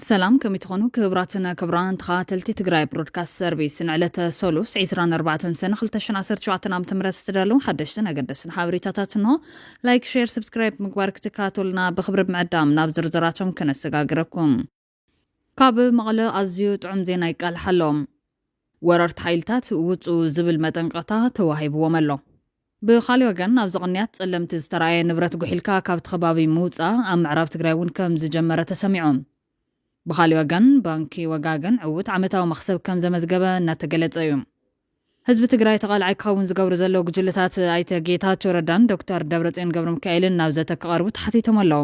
ሰላም ከመይ ትኾኑ ክብራትን ክብራን ተኸታተልቲ ትግራይ ብሮድካስት ሰርቪስ ንዕለተ ሰሉስ 24 ሰነ 217 ዓ ም ዝተዳለዉ ሓደሽትን ኣገደስን ሓበሬታታት እንሆ ላይክ ሸር ሰብስክራይብ ምግባር ክትከታተሉና ብክብሪ ምዕዳም ናብ ዝርዝራቶም ከነሰጋግረኩም ካብ መቐለ ኣዝዩ ጥዑም ዜና ይቃልሕ ኣሎ። ወረርቲ ሓይልታት ውጹ ዝብል መጠንቐቕታ ተዋሂብዎም ኣሎ። ብኻሊእ ወገን ኣብዚ ቕንያት ጸለምቲ ዝተራእየ ንብረት ጉሒልካ ካብቲ ከባቢ ምውጻእ ኣብ ምዕራብ ትግራይ እውን ከም ዝጀመረ ተሰሚዑ። ብኻሊእ ወገን ባንኪ ወጋገን ዕዉት ዓመታዊ መኽሰብ ከም ዘመዝገበ እናተገለጸ እዩ። ህዝቢ ትግራይ ተቓላዓይ ክኸውን ዝገብሩ ዘለዉ ጉጅለታት ኣይተ ጌታቸው ረዳን ዶክተር ደብረጽዮን ገብረሚካኤልን ናብ ዘተ ክቐርቡ ተሓቲቶም ኣለዉ።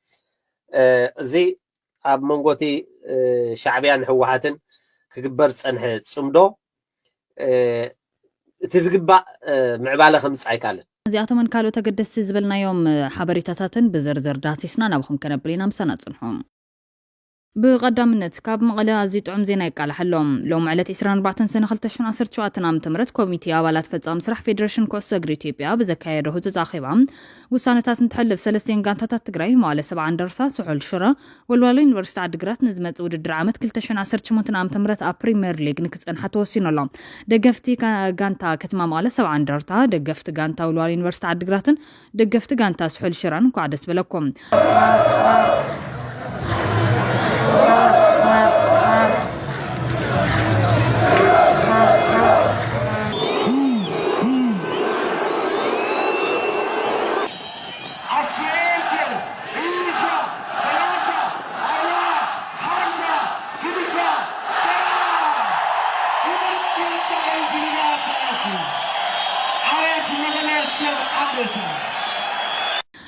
እዚ ኣብ መንጎ እቲ ሻዕብያን ህወሓትን ክግበር ዝፀንሐ ፅምዶ እቲ ዝግባእ ምዕባለ ከምፅእ ኣይከኣለን። እዚኣቶምን ካልኦት ኣገደስቲ ዝበልናዮም ሓበሬታታትን ብዝርዝር ዳህሲስና ናባኹም ከነብል ኢና። ምሳና ፅንሑ። ብቐዳምነት ካብ መቐለ ኣዝዩ ጥዑም ዜና ይቃላሓሎም። ሎሚ ዕለት ዕስራን ኣርባዕተን ሰነ ክልተ ሽሕን ዓሰርተ ሸውዓተን ዓመተ ምህረት ኮሚቴ ኣባላት ፈጻሚ ስራሕ ፌደሬሽን ኩዕሶ እግሪ ኢትዮጵያ ብዘካየዶ ህጹጽ ኣኼባ ውሳነታት እንትሕልፍ ሰለስቲኤን ጋንታታት ትግራይ፣ መዋእለ ሰብዓ እንደርታ፣ ስሑል ሽረ፣ ወልዋሎ ዩኒቨርሲቲ ዓዲግራት ንዝመጽእ ውድድር ዓመት ክልተ ሽሕን ዓሰርተ ሸሞንተን ዓመተ ምህረት ኣብ ፕሪምየር ሊግ ንክጸንሓ ተወሲኑ ኣሎ። ደገፍቲ ጋንታ ከተማ መቐለ ሰብዓ እንደርታ፣ ደገፍቲ ጋንታ ወልዋሎ ዩኒቨርሲቲ ዓዲግራትን ደገፍቲ ጋንታ ስሑል ሽረን እንኳዕ ደስ በለኩም።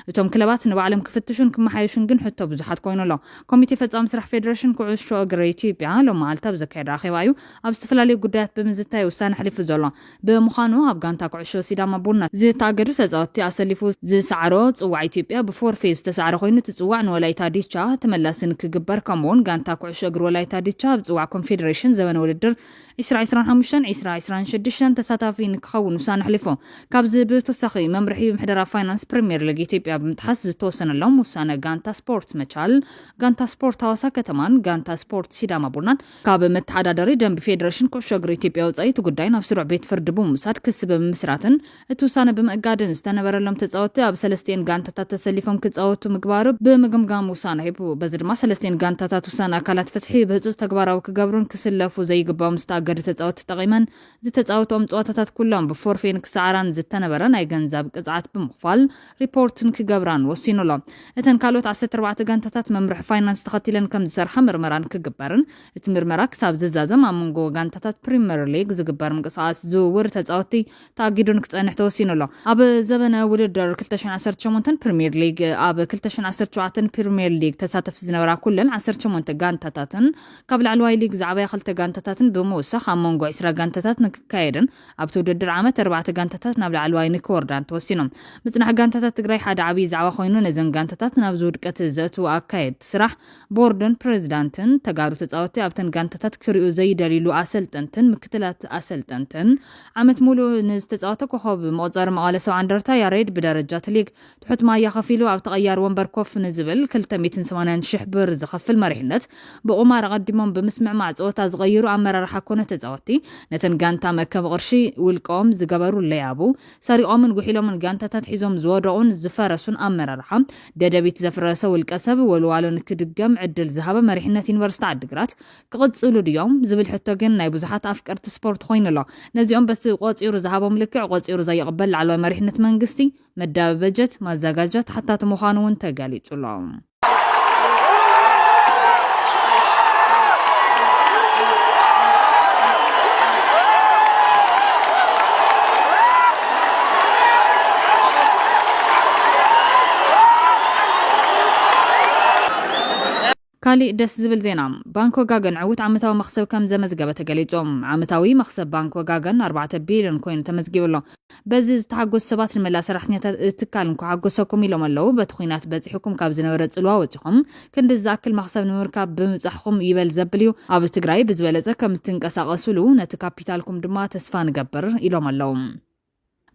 እቶም ክለባት ንባዕሎም ክፍትሹን ክመሓየሹን ግን ሕቶ ብዙሓት ኮይኑ ኣሎ። ኮሚቴ ፈጻሚ ስራሕ ፌደሬሽን ኩዕሾ እግሪ ኢትዮጵያ ሎሚ መዓልቲ ኣብ ዘካየዶ ኣኼባ እዩ ኣብ ዝተፈላለዩ ጉዳያት ብምዝታይ ውሳነ ኣሕሊፉ ዘሎ። ብምዃኑ ኣብ ጋንታ ኩዕሾ ሲዳማ ቡና ዝተኣገዱ ተጻወትቲ ኣሰሊፉ ዝሰዓሮ ጽዋዕ ኢትዮጵያ ብፎርፌ ዝተሳዕረ ኮይኑ እቲ ጽዋዕ ንወላይታ ዲቻ ተመላሲ ንክግበር ከምኡ'ውን ጋንታ ኩዕሾ እግሪ ወላይታ ዲቻ ኣብ ጽዋዕ ኮንፌደሬሽን ዘበነ ውድድር ዕስራ ዕስራን ሓሙሽተን ዕስራ ዕስራን ሽዱሽተን ተሳታፊ ንክኸውን ውሳነ ኣሕሊፉ። ካብዚ ብተወሳኺ መምርሒ ምሕደራ ፋይናንስ ፕሪሚየር ሊግ ኢትዮጵያ ብምጥሓስ ዝተወሰነሎም ውሳነ ጋንታ ስፖርት መቻል፣ ጋንታ ስፖርት ሃዋሳ ከተማን ጋንታ ስፖርት ሲዳማ ቡናን ካብ መተሓዳደሪ ደንቢ ፌደረሽን ኩዕሾ እግሪ ኢትዮጵያ ወፃኢ እቲ ጉዳይ ናብ ስሩዕ ቤት ፍርዲ ብምውሳድ ክሲ ብምምስራትን እቲ ውሳነ ብምእጋድን ዝተነበረሎም ተፃወትቲ ኣብ ሰለስቲኤን ጋንታታት ተሰሊፎም ክፃወቱ ምግባሩ ብምግምጋም ውሳነ ሂቡ። በዚ ድማ ሰለስቲኤን ጋንታታት ውሳነ ኣካላት ፍትሒ ብህፁፅ ተግባራዊ ክገብሩን ክስለፉ ዘይግበኦም ዝተኣገዱ ተፃወትቲ ተጠቒመን ዝተፃወትኦም ፀዋታታት ኩሎም ብፎርፌ ንክሰዓራን ዝተነበረ ናይ ገንዘብ ቅፅዓት ብምኽፋል ሪፖርትን ክገብራን ወሲኑ ኣሎ። እተን ካልኦት ዓሰርተ ኣርባዕተ ጋንታታት መምርሒ ፋይናንስ ተኸቲለን ከም ዝሰርሓ ምርመራን ክግበርን እቲ ምርመራ ክሳብ ዝዛዘም ኣብ መንጎ ጋንታታት ፕሪመር ሊግ ዝግበር ምንቅስቓስ ዝውውር ተፃወትቲ ተኣጊዱን ክፀንሕ ተወሲኑ ኣሎ። ኣብ ዘበነ ውድድር ክልተ ሽሕን ዓሰርተ ሸሞንተን ፕሪመር ሊግ ኣብ ክልተ ሽሕን ዓሰርተ ሸውዓተን ፕሪመር ሊግ ተሳተፍቲ ዝነበራ ኩለን ዓሰርተ ሸሞንተ ጋንታታትን ካብ ላዕለዋይ ሊግ ዝዓበያ ክልተ ጋንታታትን ብምውሳኽ ኣብ መንጎ ዕስራ ጋንታታት ንክካየድን ኣብቲ ውድድር ዓመት ኣርባዕተ ጋንታታት ናብ ላዕለዋይ ንክወርዳ እንተወሲኖም ምፅናሕ ጋንታታት ትግራይ ሓደ ዓብዪ ዛዕባ ኮይኑ ነዘን ጋንታታት ናብዚ ውድቀት ዘእትዉ ኣካየድቲ ስራሕ ቦርድን ፕሬዚዳንትን ተጋሩ ተፃወቲ ኣብተን ጋንታታት ክሪኡ ዘይደልይሉ ኣሰልጠንትን ምክትላት ኣሰልጠንትን ዓመት ሙሉእ ንዝተፃወተ ኮኸብ መቑፀሪ መቐለ ሰብዓ እንደርታ ያሬድ ብደረጃ እቲ ሊግ ትሑት ማያ ከፊሉ ኣብ ተቐያሪ ወንበር ኮፍ ንዝብል ክልተ ሚእትን ሰማንያን ሽሕ ብር ዝኸፍል መሪሕነት ብቑማር ኣቐዲሞም ብምስምዕማዕ ፀወታ ዝቐይሩ ኣመራርሓ ኮነ ተፃወቲ ነተን ጋንታ መእከቢ ቅርሺ ውልቀኦም ዝገበሩ ለያቡ ሰሪቖምን ጉሒሎምን ጋንታታት ሒዞም ዝወደቑን ዝፈረሱን ኣመራርሓ ደደቢት ዘፍረሰ ውልቀሰብ ወልዋሎ ንክድገም ዕድል ዝሃበ መሪሕነት ዩኒቨርሲቲ ዓዲግራት ክቕፅሉ ድዮም ዝብል ሕቶ ግን ናይ ብዙሓት ኣፍቀርቲ ስፖርት ኮይኑ ኣሎ። ነዚኦም በቲ ቆፂሩ ዝሃቦም ልክዕ ቆፂሩ ዘይቕበል ላዕለዋይ መሪሕነት መንግስቲ መዳቢ በጀት፣ ማዘጋጃ፣ ተሓታቲ ምዃኑ እውን ተገሊፁ'ሎ። ካሊእ ደስ ዝብል ዜና ባንክ ወጋገን ዕውት ዓመታዊ መኽሰብ ከም ዘመዝገበ ተገሊፁ። ዓመታዊ መኽሰብ ባንክ ወጋገን ኣርባዕተ ቢልዮን ኮይኑ ተመዝጊቡ ኣሎ። በዚ ዝተሓጎሱ ሰባት ንመላእ ሰራሕተኛታት እቲ ትካል እንኳዕ ሓጎሰኩም ኢሎም ኣለው። በቲ ኹናት በፂሑኩም ካብ ዝነበረ ፅልዋ ወፂኹም ክንድዚ ዝኣክል መኽሰብ ንምርካብ ብምብፃሕኹም ይበል ዘብል እዩ። ኣብ ትግራይ ብዝበለፀ ከም እትንቀሳቐሱሉ ነቲ ካፒታልኩም ድማ ተስፋ ንገብር ኢሎም ኣለው።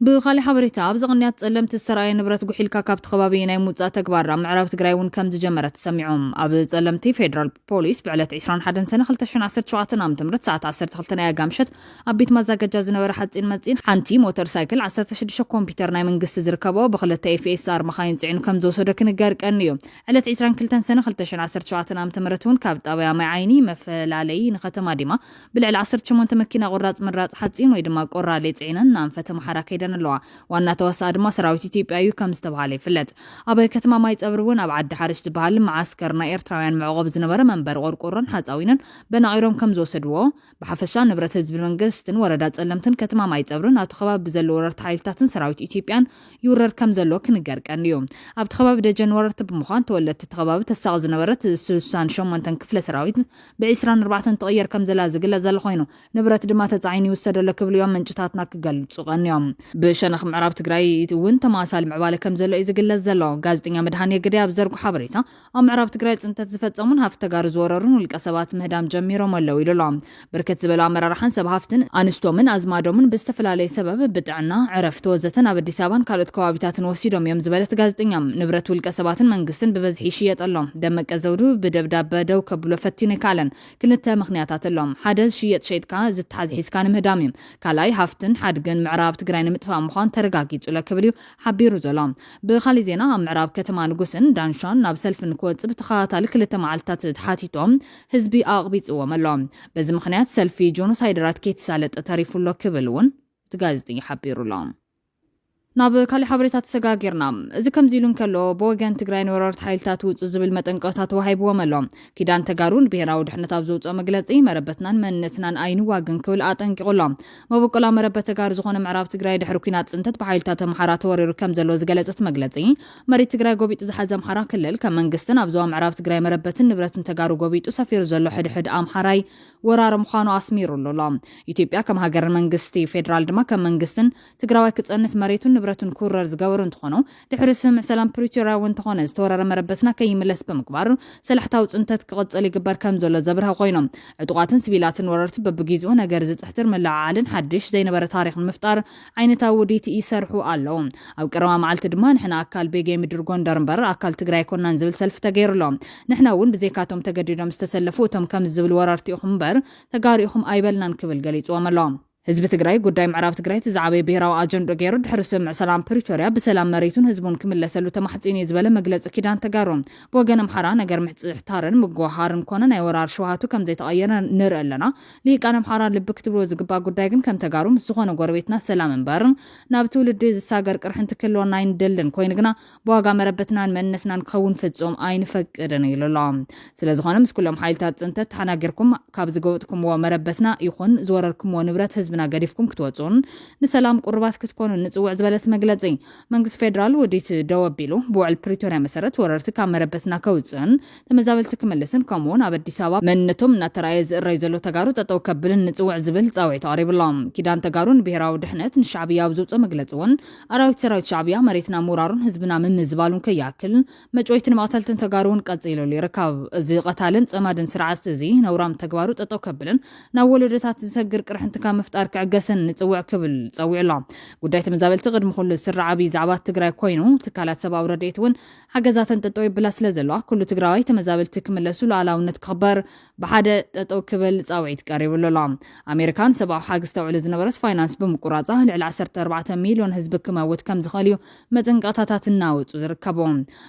ብኻሊእ ሓበሬታ ኣብዚ ቕንያት ፀለምቲ ዝተርኣየ ንብረት ጉሒልካ ካብቲ ከባቢ ናይ ምውፃእ ተግባር ኣብ ምዕራብ ትግራይ እውን ከምዝጀመረ ተሰሚዑ። ኣብ ፀለምቲ ፌደራል ፖሊስ ብዕለት ዕስራን ሓደን ሰነ ክልተ ሽሕን ዓሰርተ ሸውዓተ ዓ.ም ሰዓት ዓሰርተ ክልተ ናይ ኣጋ ምሸት ኣብ ቤት ማዛገጃ ዝነበረ ሓፂን መፂን ሓንቲ ሞተር ሳይክል ዓሰርተ ሽዱሽተ ኮምፒተር ናይ መንግስቲ ዝርከበኦ ብክልተ FSR መኻይን ፅዒኑ ከምዝወሰዶ ክንገር ቀንዩ። ዕለት ዕስራን ክልተን ሰነ ክልተ ሽሕን ዓሰርተ ሸውዓተ ዓ.ም እውን ካብ ጣብያ ማይ ዓይኒ መፈላለዪ ንከተማ ዲማ ብልዕሊ ዓሰርተ ሸሞንተ መኪና ቁራፅ ምራፅ ሓፂን ወይ ድማ ቆራሌ ፅዒነን ንኣንፈት ኣምሓራ ከይደን ኣለዋ። ዋና ተዋሳኢ ድማ ሰራዊት ኢትዮጵያ እዩ ከም ዝተብሃለ ይፍለጥ። ኣብ ከተማ ማይፀብሪ እውን ኣብ ዓዲ ሓርሽ ዝበሃል መዓስከር ናይ ኤርትራውያን መዕቖቢ ዝነበረ መንበሪ ቆርቆሮን ሓፃዊንን በናቚሮም ከም ዝወሰድዎ ብሓፈሻ ንብረት ህዝቢ መንገስትን ወረዳ ፀለምትን ከተማ ማይፀብርን ኣብቲ ከባቢ ብዘሎ ወረርቲ ሓይልታትን ሰራዊት ኢትዮጵያን ይውረር ከም ዘሎ ክንገር ቀንዩ። ኣብቲ ከባቢ ደጀን ወረርቲ ብምዃን ተወለድቲ እቲ ከባቢ ተሳቒ ዝነበረት ስሳን ሸሞንተን ክፍለ ሰራዊት ብዒስራን ኣርባዕተን ትቕየር ከምዘላ ዝግለጽ ዘሎ ኮይኑ፣ ንብረት ድማ ተጻዒኑ ይውሰድ ኣሎ ክብሉ እዮም ምንጭታትና ክገልጹ ቀንዮም። ብሸነኽ ምዕራብ ትግራይ እውን ተመሳሳሊ ምዕባለ ከምዘሎ እዩ ዝግለጽ ዘሎ። ጋዜጠኛ መድሃኔ ግደይ ኣብ ዝዘርጎ ሓበሬታ፣ ኣብ ምዕራብ ትግራይ ጽንተት ዝፈጸሙን ሃፍቲ ተጋሩ ዝወረሩን ውልቀ ሰባት ምህዳም ጀሚሮም ኣለው ኢሉ ኣሎ። ብርክት ዝበሉ ኣመራርሓን ሰብ ሃፍትን፣ ኣንስቶምን ኣዝማዶምን ብዝተፈላለየ ሰበብ፣ ጥዕና፣ ዕረፍቲ ወዘተ ናብ ኣዲስ ኣበባን ካልኦት ከባቢታትን ወሲዶም እዮም ዝበለት ጋዜጠኛ፣ ንብረት ውልቀ ሰባትን መንግስትን ብበዝሒ ይሽየጥ ኣሎ። ደመቀ ዘውዱ ብደብዳበ ደው ከብሎ ፈቲኑ ኣይከኣለን። ክልተ ምኽንያታት ኣሎ። ሓደ ዝሽየጥ ሸይጥካ ዝተሓዝ ሒዝካ ንምህዳም እዩ። ካልኣይ ሃፍትን ሓድግን ምዕራብ ትግራይ ንምጥፋእ ምዃኑ ተረጋጊጹለ ክብል እዩ ሓቢሩ ዘሎ። ብኻሊእ ዜና ኣብ ምዕራብ ከተማ ንጉስን ዳንሻን ናብ ሰልፊ ንክወጽእ ብተኸታታሊ ክልተ መዓልትታት ተሓቲቶም ህዝቢ ኣቕቢጽዎም ኣሎ። በዚ ምኽንያት ሰልፊ ጆኖሳይደራት ከይተሳለጠ ተሪፉ ኣሎ ክብል እውን እቲ ጋዜጠኛ ሓቢሩ'ሎ። ናብ ካሊእ ሓበሬታ ተሰጋጊርና። እዚ ከምዚ ኢሉ እንከሎ ብወገን ትግራይ ንወረርቲ ሓይልታት ውጹ ዝብል መጠንቀቕታ ተዋሂብዎም ኣሎ። ኪዳን ተጋሩ ንብሄራዊ ድሕነት ኣብ ዘውጽኦ መግለጺ መረበትናን መንነትናን ኣይንዋግን ክብል ኣጠንቂቑ ኣሎ። መበቆላ መረበት ተጋሩ ዝኾነ ምዕራብ ትግራይ ድሕሪ ኲናት ጽንተት ብሓይልታት ኣምሓራ ተወሪሩ ከም ዘሎ ዝገለጸ እቲ መግለጺ መሬት ትግራይ ጎቢጡ ዝሓዘ ኣምሓራ ክልል ከም መንግስትን ኣብ ዞባ ምዕራብ ትግራይ መረበትን ንብረትን ተጋሩ ጎቢጡ ሰፊሩ ዘሎ ሕድሕድ ኣምሓራይ ወራር ምዃኑ ኣስሚሩሉ ኣሎ። ኢትዮጵያ ከም ሃገርን መንግስቲ ፌደራል ድማ ከም መንግስትን ትግራዋይ ክፀንት መሬቱን ንብረቱን ክውረር ዝገበሩ እንትኾኑ ድሕሪ ስምምዕ ሰላም ፕሪቶርያ እውን እንተኾነ ዝተወረረ መረበትና ከይምለስ ብምግባር ሰላሕታዊ ፅንተት ክቕፅል ይግበር ከምዘሎ ዘብርሀ ኮይኑ ዕጡቓትን ስቪላትን ወረርቲ በብጊዝኡ ነገር ዝፅሕትር ምልዕዓልን ሓድሽ ዘይነበረ ታሪኽ ንምፍጣር ዓይነታዊ ውዲት ይሰርሑ ኣለዉ። ኣብ ቀረባ መዓልቲ ድማ ንሕና ኣካል ቤጌ ምድር ጎንደር እምበር ኣካል ትግራይ ኣይኮናን ዝብል ሰልፊ ተገይሩ ኣሎ። ንሕና እውን ብዘይካቶም ተገዲዶም ዝተሰለፉ እቶም ከምዚ ዝብል ወረርቲ ኢኹም እምበር ተጋሩ ኢኹም ኣይበልናን ክብል ገሊፅዎም ኣሎ። ህዝቢ ትግራይ ጉዳይ ምዕራብ ትግራይ እቲ ዝዓበየ ብሄራዊ ኣጀንድኡ ገይሩ ድሕሪ ስምምዕ ሰላም ፕሪቶርያ ብሰላም መሬቱን ህዝቡን ክምለሰሉ ተማሕፂኑ እዩ ዝበለ መግለፂ ኪዳን ተጋሩ ብወገን ኣምሓራ ነገር ምሕፅሕታርን ምጉህሃርን ኮነ ናይ ወራር ሽውሃቱ ከምዘይተቐየረ ንርኢ ኣለና። ልሂቃን ኣምሓራ ልቢ ክትብልዎ ዝግባእ ጉዳይ ግን ከም ተጋሩ ምስ ዝኾነ ጎረቤትና ሰላም እምበር ናብ ትውልዲ ዝሳገር ቅርሕንቲ ክህልወና ኣይንደልን ኮይኑ ግና ብዋጋ መረበትናን መንነትናን ክኸውን ፍጹም ኣይንፈቅድን ኢሉ ኣሎ። ስለዝኾነ ምስ ኩሎም ሓይልታት ጽንተት ተሓናጊርኩም ካብ ዝገወጥኩምዎ መረበትና ይኹን ዝወረርኩምዎ ንብረት ህዝብና ገዲፍኩም ክትወጹን ንሰላም ቁሩባት ክትኮኑን ንጽውዕ ዝበለት መግለጺ መንግስቲ ፌደራል ውዲት ደው ኣቢሉ ብውዕል ፕሪቶርያ መሰረት ወረርቲ ካብ መረበትና ከውፅእን ተመዛበልቲ ክምልስን ከምኡ እውን ኣብ ኣዲስ ኣበባ መንነቶም እናተረኣየ ዝእረይ ዘሎ ተጋሩ ጠጠው ከብልን ንፅውዕ ዝብል ፃውዒት ኣቕሪቡ ኣሎ። ኪዳን ተጋሩ ንብሄራዊ ድሕነት ንሻዕብያ ኣብ ዘውፅኦ መግለፂ እውን ኣራዊት ሰራዊት ሻዕብያ መሬትና ምውራሩን ህዝብና ምምዝባሉን ከይኣክል መጭወይትን መቕተልትን ተጋሩ እውን ቀፂሉሉ ይርከብ። እዚ ቐታልን ፀማድን ስርዓት እዚ ነውራም ተግባሩ ጠጠው ከብልን ናብ ወለዶታት ዝሰግር ቅርሕንቲ ካብ ምፍጣር ክዕገስን ንፅውዕ ክብል ፀዊዑ ኣሎ። ጉዳይ ተመዛበልቲ ቅድሚ ኩሉ ዝስራዕ ኣብይ ዛዕባ ትግራይ ኮይኑ ትካላት ሰብኣዊ ረድኤት እውን ሓገዛተን ጠጠው የብላ ስለዘለዋ ኩሉ ትግራዋይ ተመዛበልቲ ክምለሱ ሉኣላውነት ክኽበር ብሓደ ጠጠው ክብል ፃውዒት ቀሪብሉ ኣሎ። ኣሜሪካ ንሰብኣዊ ሓግዝ ተውዕሎ ዝነበረት ፋይናንስ ብምቁራፃ ልዕሊ ዓሰርተ ኣርባዕተ ሚልዮን ህዝቢ ክመውት ከምዝኽእል እዩ መጠንቀቕታታት እናወጹ ዝርከቡ።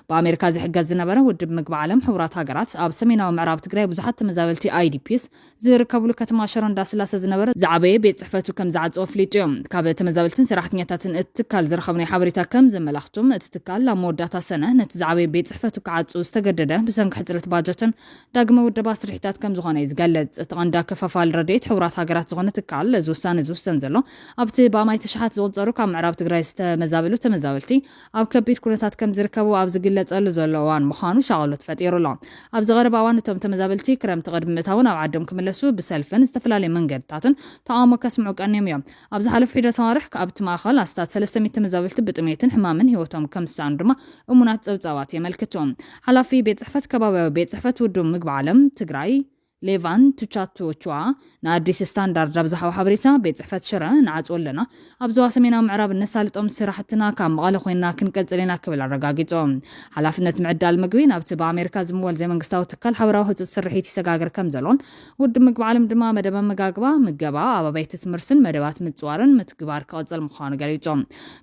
ብኣሜሪካ ዝሕገዝ ዝነበረ ውድብ ምግቢ ዓለም ሕቡራት ሃገራት ኣብ ሰሜናዊ ምዕራብ ትግራይ ብዙሓት ተመዛበልቲ ኣይዲፒስ ዝርከብሉ ከተማ ሸሮ እንዳስላሰ ዝነበረ ዝዓበየ ቤት ጽሕፈቱ ከም ዝዓጸወ ኣፍሊጡ እዩ። ካብ ተመዛበልትን ሰራሕተኛታትን እቲ ትካል ዝረኸብናዮ ሓበሬታ ከም ዘመላኽቱ እቲ ትካል ኣብ መወዳእታ ሰነ ነቲ ዝዓበየ ቤት ጽሕፈቱ ክዓጹ ዝተገደደ ብሰንኪ ሕጽረት ባጀትን ዳግመ ውደባ ስርሒታት ከም ዝኾነ እዩ ዝገልጽ። እቲ ቀንዲ ኣከፋፋሊ ረድኤት ሕቡራት ሃገራት ዝኾነ ትካል እዚ ውሳነ ዝውሰን ዘሎ ኣብቲ ብኣማኢት ኣሽሓት ዝቑጸሩ ካብ ምዕራብ ትግራይ ዝተመዛበሉ ተመዛበልቲ ኣብ ከቢድ ኩነታት ከምዝርከቡ ኣብ ዝግለጸሉ ዘሎ እዋን ምዃኑ ሻቕሎት ፈጢሩ ኣሎ። ኣብዚ ቀረባ እዋን እቶም ተመዛበልቲ ክረምቲ ቅድሚ ምእታዉ ናብ ዓዶም ክምለሱ ብሰልፍን ዝተፈላለዩ መንገድታትን ተቓውሞ ከስምዑ ቀንዮም እዮም። ኣብ ዝሓለፉ ሒደት ኣዋርሕ ኣብቲ ማእኸል ኣስታት ሰለስተ ሚእቲ ተመዛበልቲ ብጥምየትን ሕማምን ህይወቶም ከምዝሰኣኑ ድማ እሙናት ፀብፃባት የመልክቱ። ሓላፊ ቤት ፅሕፈት ከባብያዊ ቤት ፅሕፈት ውድብ ምግቢ ዓለም ትግራይ ሌቫን ቱቻትዎቹዋ ንኣዲስ ስታንዳርድ ኣብ ዝሃቦ ሓበሬታ፣ ቤት ጽሕፈት ሽረ ንዓጽዎ ኣለና፣ ኣብ ዞባ ሰሜናዊ ምዕራብ እነሳልጦም ስራሕትና ካብ መቐለ ኮይንና ክንቅጽል ኢና ክብል ኣረጋጊጹ። ሓላፍነት ምዕዳል ምግቢ ናብቲ ብኣሜሪካ ዝምወል ዘይመንግስታዊ ትካል ሓበራዊ ህጹጽ ስርሒት ይሰጋገር ከምዘሎን ውድብ ምግቢ ዓለም ድማ መደብ ኣመጋግባ፣ ምገባ፣ ኣብ ኣባይቲ ትምህርትን መደባት ምጽዋርን ምትግባር ክቕጽል ምዃኑ ገሊጹ።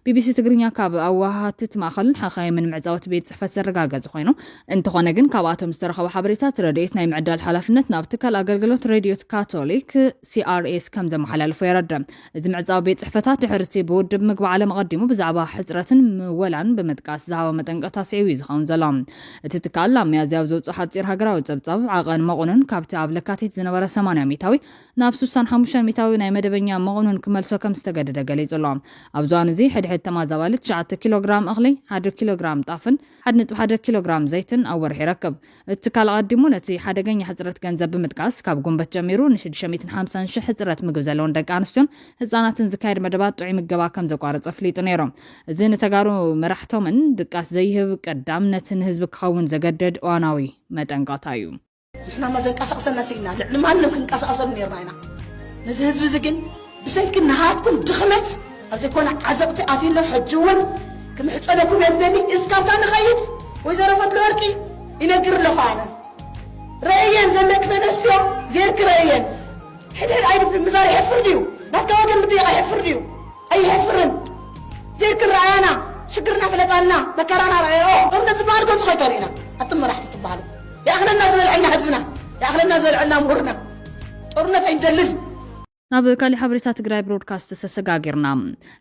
ቢቢሲ ትግርኛ ካብ ኣወሃሃድቲ እቲ ማእኸልን ሓኻይምን መዕጸውቲ ቤት ጽሕፈት ዘረጋገጸ ኮይኑ፣ እንተኾነ ግን ካብኣቶም ዝተረኸበ ሓበሬታት ረድኤት ናይ ምዕዳል ሓላፍነት ናብ ትካል ኣገልግሎት ሬድዮት ካቶሊክ ሲኣርኤስ ከም ዘመሓላልፎ የረድእ። እዚ ምዕፃዊ ቤት ፅሕፈታት ድሕርቲ ብውድብ ምግቢ ዓለም ኣቐዲሙ ብዛዕባ ሕፅረትን ምወላን ብምጥቃስ ዝሃቦ መጠንቀቕታ ስዒቡ እዩ ዝኸውን ዘሎ። እቲ ትካል ኣብ መያዝያ ኣብ ዘውፅኦ ሓፂር ሃገራዊ ፀብፃብ ዓቐን መቑንን ካብቲ ኣብ ለካቲት ዝነበረ 80 ሚታዊ ናብ 65 ሚታዊ ናይ መደበኛ መቑንን ክመልሶ ከም ዝተገደደ ገሊጹ ኣሎ። ኣብዚ እዋን እዚ ሕድሕድ ተማዛባሊ 9 ኪሎግራም እኽሊ፣ ሓደ ኪሎግራም ጣፍን ሓደ ነጥቢ ሓደ ኪሎግራም ዘይትን ኣብ ወርሒ ይረክብ። እቲ ትካል ኣቐዲሙ ነቲ ሓደገኛ ሕጽረት ገንዘብ ብምጥቃስ፣ ካብ ጉንበት ጀሚሩ ንሽዱሽተ ሚእትን ሓምሳን ሽሕ ሕጽረት ምግቢ ዘለወን ደቂ ኣንስትዮን ህጻናትን ዝካየድ መደባት ጥዑይ ምገባ ከም ዘቋረጸ ኣፍሊጡ ነይሩ። እዚ ንተጋሩ መራሕቶምን ድቃስ ዘይህብ ቀዳምነት ንህዝቢ ክኸውን ዘገድድ እዋናዊ መጠንቀቕታ እዩ። ንሕናማ ዘንቀሳቕሰና ስኢና ልዕሊ ማንም ክንቀሳቐሰሉ ነርና ኢና። ነዚ ህዝቢ እዚ ግን ብሰንኪ ናሃትኩም ድኽመት ኣብ ዘይኮነ ዓዘቕቲ ኣትዩ ኣሎ። ሕጂ እውን ክምሕጸነኩም እየ ዝደሊ እስካብታ ንኸይድ ወይዘሮ ፈትለወርቂ ይነግር ኣለኹ ኣነ ረእየን ዘለኪ ተነስትዮ ዜርኪ ረእየን ሕድሕድ ኣይድብሪ ምዛር የሕፍር ድዩ ናትካ ወገን ምጥያቕ የሕፍር ድዩ ኣይሕፍርን ዘይክር ረኣያና ሽግርና ፍለጣልና መከራና ረኣዮ ሎም ነዚ በሃል ገጹ ከይተርእዩና ኣቱም መራሕቲ ትበሃሉ ይኣኽለና ዝበልዐልና ህዝብና ይኣኽለና ዝበልዐልና ምሁርና ጦርነት ኣይንደልን ናብ ካሊእ ሓበሬታ ትግራይ ብሮድካስት ተሰጋጊርና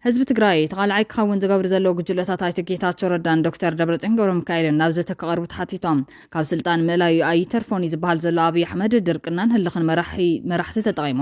ህዝቢ ትግራይ ተቓላዓይ ክኸውን ዝገብር ዘለዉ ጉጅለታት ኣይተ ጌታቸው ረዳን ዶክተር ደብረፅዮን ገብረ ሚካኤልን ናብ ዘተ ክቐርቡ ተሓቲቶም ካብ ስልጣን ምእላዩ ኣይተርፎን እዩ ዝበሃል ዘሎ ኣብዪ ኣሕመድ ድርቅናን ህልኽን መራሕቲ ተጠቒሙ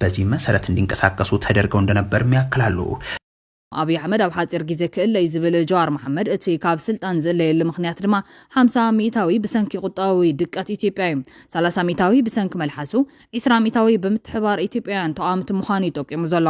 በዚህም መሰረት እንዲንቀሳቀሱ ተደርገው እንደነበርም ያክላሉ። ኣብይ ኣሕመድ ኣብ ሓፂር ጊዘ ክእለ እዩ ዝብል ጀዋር መሓመድ እቲ ካብ ስልጣን ዝእለየሉ ምኽንያት ድማ ሓምሳ ሚኢታዊ ብሰንኪ ቁጠባዊ ድቀት ኢትዮጵያ እዩ፣ ሰላሳ ሚኢታዊ ብሰንኪ መልሓሱ፣ ዒስራ ሚኢታዊ ብምትሕብባር ኢትዮጵያውያን ተቓወምቲ ምዃኑ እዩ ጠቂሙ ዘሎ።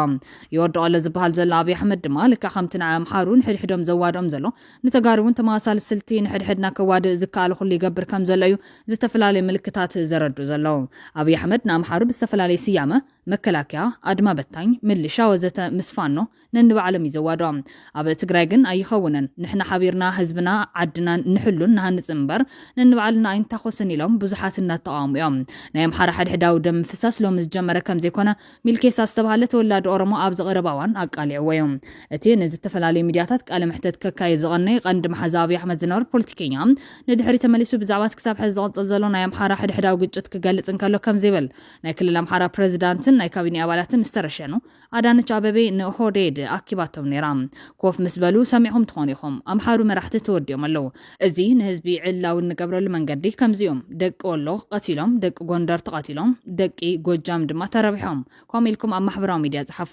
ይወድቕ ኣሎ ዝብሃል ዘሎ ኣብይ ኣሕመድ ድማ ልክዕ ከምቲ ንዓይ ኣምሓሩ ንሕድሕዶም ዘዋድኦም ዘሎ፣ ንተጋሩ እውን ተመሳሳሊ ስልቲ ንሕድሕድና ከዋድእ ዝከኣሎ ኩሉ ይገብር ከም ዘሎ እዩ ዝተፈላለዩ ምልክታት ዘረድኡ ዘለዉ። ኣብይ ኣሕመድ ንኣምሓሩ ብዝተፈላለየ ስያመ፣ መከላከያ፣ ኣድማ በታኝ፣ ምልሻ ወዘተ ምስ ፋኖ ነንባዕሎም እዩ ዘዋድኦም። ኣብ ትግራይ ግን ኣይኸውንን። ንሕና ሓቢርና ህዝብና ዓድናን ንሕሉን ንሃንፅን እምበር ነንባዕልና ኣይንታኾስን ኢሎም ብዙሓት እናተቓወሙ እዮም። ናይ ኣምሓራ ሕድሕዳዊ ደም ምፍሳስ ሎሚ ዝጀመረ ከም ዘይኮነ ሚልኬሳ ዝተባህለ ተወላዲ ኦሮሞ ኣብዚ ቀረባ እዋን ኣቃሊዕዎ'ዩ። እቲ ንዝተፈላለዩ ሚድያታት ቃለ መሕተት ከካይድ ዝቐነየ ቀንዲ መሓዛ ኣብይ ኣሕመድ ዝነበረ ፖለቲከኛ፣ ንድሕሪት ተመሊሱ ብዛዕባ እቲ ክሳብ ሕዚ ዝቕጽል ዘሎ ናይ ኣምሓራ ሕድሕዳዊ ግጭት ክገልጽ እንከሎ ከምዚ ይብል፣ ናይ ክልል ኣምሓራ ፕረዚዳንትን ናይ ካቢኔ ኣባላትን ምስ ተረሸኑ፣ ኣዳነች ኣበቤ ንኦህዴድ ኣኪባቶም ነይራ። ኮፍ ምስ በሉ ሰሚዕኩም ትኾኑ ኢኹም። ኣምሓሩ መራሕቲ ተወዲኦም ኣለዉ። እዚ ንህዝቢ ዕላዊ እንገብረሉ መንገዲ ከምዚ እዩ። ደቂ ወሎ ቐቲሎም፣ ደቂ ጎንደር ተቐቲሎም፣ ደቂ ጎጃም ድማ ተረቢሖም። ከምኡ ኢልኩም ኣብ ማሕበራዊ ሚድያ ፀሓፉ።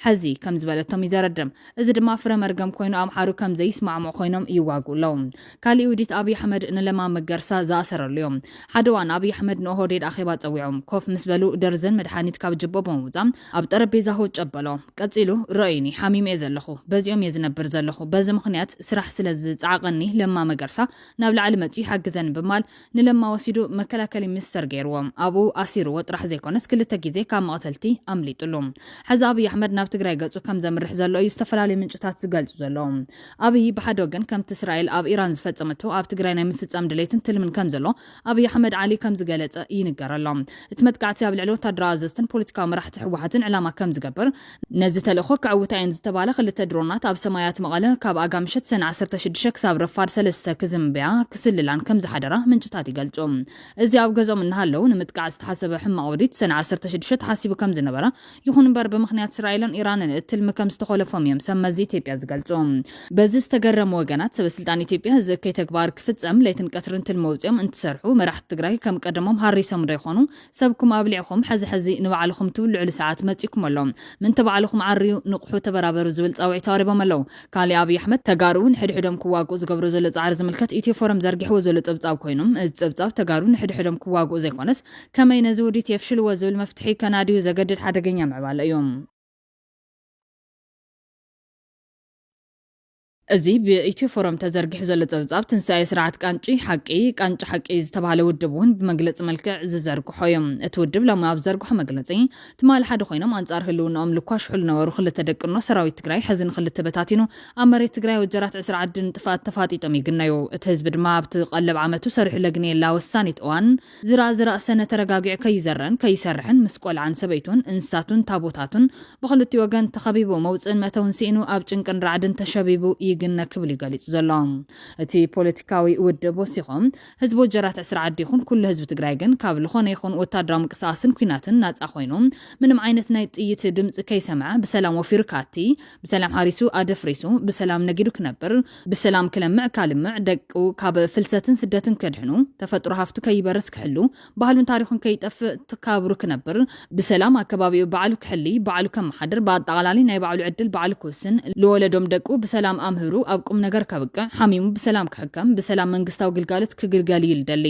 ሐዚ ከም ዝበለቶም እዩ ዘረድም። እዚ ድማ ፍረ መርገም ኮይኑ ኣምሓሩ ከም ዘይስማዕምዑ ኮይኖም ይዋግኡ ኣለው። ካሊእ ውዲት ኣብይ ኣሕመድ ንለማ መገርሳ ዝኣሰረሉ እዩ። ሓደ እዋን ኣብይ ኣሕመድ ንኦሆዴድ ኣኼባ ፀዊዑ። ኮፍ ምስ በሉ ደርዘን መድሓኒት ካብ ጅብኦም ብምውፃእ ኣብ ጠረጴዛ ሁጭ ኣበሎ። ቀጺሉ ረኡዩኒ፣ ሓሚመ'የ ዘለኹ፣ በዚኦም'የ ዝነብር ዘለኹ፣ በዚ ምኽንያት ስራሕ ስለ ዝጸዓቐኒ ለማ መገርሳ ናብ ላዕሊ መጺኡ ይሓግዘኒ ብምባል ንለማ ወሲዱ መከላከሊ ሚኒስተር ገይሩዎ። ኣብኡ ኣሲሩዎ ጥራሕ ዘይኮነስ ክልተ ግዜ ካብ መቕተልቲ ኣምሊጡሉ። ሕዚ ኣብይ ኣሕመድ ናብ ትግራይ ገጹ ከም ዘምርሕ ዘሎ እዩ ዝተፈላለዩ ምንጭታት ዝገልጹ ዘለዉ። ኣብይ ብሓደ ወገን ከምቲ እስራኤል ኣብ ኢራን ዝፈጸመቶ ኣብ ትግራይ ናይ ምፍጻም ድሌትን ትልምን ከም ዘሎ ኣብይ ኣሕመድ ዓሊ ከም ዝገለጸ ይንገር ኣሎ። እቲ መጥቃዕቲ ኣብ ልዕሊ ወታደራዊ ኣዘዝትን ፖለቲካዊ መራሕቲ ህወሓትን ዕላማ ከም ዝገብር፣ ነዚ ተልእኾ ከዕውታ እየን ዝተባህላ ክልተ ድሮናት ኣብ ሰማያት መቐለ ካብ ኣጋ ምሸት ሰነ ዓሰርተ ሽዱሽተ ክሳብ ረፋድ ሰለስተ ክዝምብያ ክስልላን ከም ዝሓደራ ምንጭታት ይገልጹ። እዚ ኣብ ገዝኦም እናሃለዉ ንምጥቃዕ ዝተሓሰበ ሕማቕ ውዲት ሰነ ዓሰርተ ሽዱሽተ ተሓሲቡ ከም ዝነበረ ይኹን እምበር ብምኽንያት እስራኤልን ኢራንን እቲ ትልሚ ከም ዝተኾለፎም እዮም ሰብ መዚ ኢትዮጵያ ዝገልፁ። በዚ ዝተገረሙ ወገናት ሰበ ስልጣን ኢትዮጵያ እዚ እከይ ተግባር ክፍፀም ለይትን ቀትርን ትልሚ ኣውፂኦም እንትሰርሑ መራሕቲ ትግራይ ከም ቀደሞም ሃሪሶምዶ ይኾኑ? ሰብኩም ኣብሊዕኹም ሕዚ ሕዚ ንባዕልኹም ትብልዕሉ ሰዓት መፂኡኩም ኣሎ። ምእንተ ባዕልኹም ዓርዩ፣ ንቕሑ፣ ተበራበሩ ዝብል ፃውዒት ኣቕሪቦም ኣለው። ካሊእ ኣብይ ኣሕመድ ተጋሩ ንሕድሕዶም ክዋግኡ ዝገብሮ ዘሎ ፃዕሪ ዝምልከት ኢትዮ ፎረም ዘርጊሕዎ ዘሎ ፀብፃብ ኮይኑ እዚ ፀብፃብ ተጋሩ ንሕድሕዶም ክዋግኡ ዘይኮነስ ከመይ ነዚ ውዲት የፍሽልዎ ዝብል መፍትሒ ከናድዩ ዘገድድ ሓደገኛ ምዕባለ እዩ። እዚ ብኢትዮ ፎረም ተዘርጊሑ ዘሎ ጸብጻብ ትንሳኤ ስርዓት ቃንጪ ሓቂ፣ ቃንጪ ሓቂ፣ ዝተባህለ ውድብ እውን ብመግለጺ መልክዕ ዝዘርግሖ እዩ። እቲ ውድብ ሎሚ ኣብ ዝዘርግሖ መግለጺ፣ ትማሊ ሓደ ኮይኖም ኣንጻር ህልውንኦም ልኳሽሑ ልነበሩ ክልተ ደቅኖ ሰራዊት ትግራይ ሕዚ ንክልተ በታቲኑ ኣብ መሬት ትግራይ ወጀራት ዕስራ ዓዲ ንጥፍኣት ተፋጢጦም ይግነዩ እቲ ህዝቢ ድማ ኣብቲ ቀለብ ዓመቱ ሰሪሑ ለግንየላ ወሳኒት እዋን ዝራእ ዝራእ ሰነ ተረጋጊዑ ከይዘረን ከይሰርሕን ምስ ቆልዓን ሰበይቱን እንስሳቱን ታቦታቱን ብኽልቲኡ ወገን ተኸቢቡ መውፅእን መእተውን ሲኢኑ ኣብ ጭንቅን ራዕድን ተሸቢቡ ይግነ ክብል እዩ ገሊፁ ዘሎ እቲ ፖለቲካዊ ውድብ ወሲኹ። ህዝቢ ወጀራት ዕስራ ዓዲ ይኹን ኩሉ ህዝቢ ትግራይ ግን ካብ ልኾነ ይኹን ወታደራዊ ምንቅስቓስን ኲናትን ናፃ ኾይኑ ምንም ዓይነት ናይ ጥይት ድምፂ ከይሰምዐ ብሰላም ወፊሩ ክኣቲ ብሰላም ሓሪሱ ኣደፍሪሱ ብሰላም ነጊዱ ክነብር፣ ብሰላም ክለምዕ ካልምዕ፣ ደቁ ካብ ፍልሰትን ስደትን ከድሕኑ፣ ተፈጥሮ ሃፍቱ ከይበርስ ክሕሉ፣ ባህሉን ታሪኹን ከይጠፍእ ተካብሩ ክነብር፣ ብሰላም ኣከባቢኡ ባዕሉ ክሕሊ፣ ባዕሉ ከመሓድር፣ ብኣጣቓላሊ ናይ ባዕሉ ዕድል ባዕሉ ክውስን፣ ልወለዶም ደቁ ብሰላም ኣምህሩ ኣብ ቁምነገር ከብቅዕ፣ ሓሚሙ ብሰላም ክሕከም፣ ብሰላም መንግስታዊ ግልጋሎት ክግልገል እዩ ልደሊ።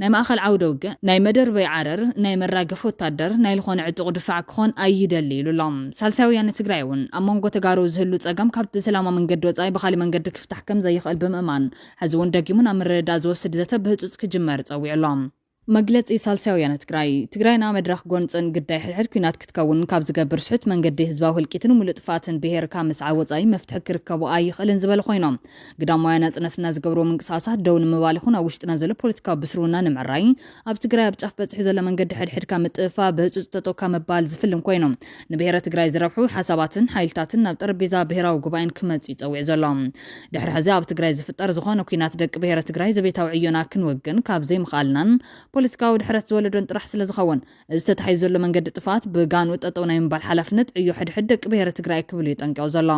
ናይ ማእኸል ዓውደ ውግእ፣ ናይ መደርበይ ዓረር፣ ናይ መራገፊ ወታደር፣ ናይ ልኾነ ዕጡቕ ድፋዕ ክኾን ኣይደሊ ኢሉ ኣሎ። ሳልሳይ ወያነ ትግራይ እውን ኣብ መንጎ ተጋሩ ዝህሉ ፀገም ካብ ብሰላማዊ መንገዲ ወፃኢ ብኻሊእ መንገዲ ክፍታሕ ከምዘይኽእል ብምእማን ሕዚ እውን ደጊሙ ናብ ምርድዳእ ዝወስድ ዘተ ብህፁፅ ክጅመር ፀዊዑ ኣሎ። መግለፂ ሳልሳይ ወያነ ትግራይ፣ ትግራይና መድረኽ ጎንፅን ግዳይ ሕድሕድ ኲናት ክትከውን ካብ ዝገብር ስሑት መንገዲ ህዝባዊ ህልቂትን ሙሉእ ጥፍኣትን ብሄር ካብ ምስዓብ ወፃኢ መፍትሒ ክርከቦ ኣይኽእልን ዝበሉ ኮይኖም ግዳማውያን ናጽነትና ዝገብርዎ ምንቅስቓሳት ደው ንምባል ይኹን ኣብ ውሽጥና ዘሎ ፖለቲካዊ ብስርውና ንምዕራይ ኣብ ትግራይ ኣብ ጫፍ በጺሑ ዘሎ መንገዲ ሕድሕድካ ምጥፍፋ ብህጹጽ ጠጠው ካብ ምባል ዝፍልም ኮይኑ ንብሔረ ትግራይ ዝረብሑ ሓሳባትን ሓይልታትን ናብ ጠረጴዛ ብሔራዊ ጉባኤን ክመጽኡ ይጸዊዑ ዘሎ ድሕሪ ሕዚ ኣብ ትግራይ ዝፍጠር ዝኾነ ኩናት ደቂ ብሔረ ትግራይ ዘቤታዊ ዕዮና ክንውግን ካብ ዘይምኽኣልናን ፖለቲካዊ ድሕረት ዝወለዶን ጥራሕ ስለዝኸውን እዚ ተታሒዙ ዘሎ መንገዲ ጥፍኣት ብጋንኡ ጠጠው ናይ ምባል ሓላፍነት ዕዮ ሕድሕድ ደቂ ብሄረ ትግራይ ክብል እዩ ጠንቂቑ ዘሎ።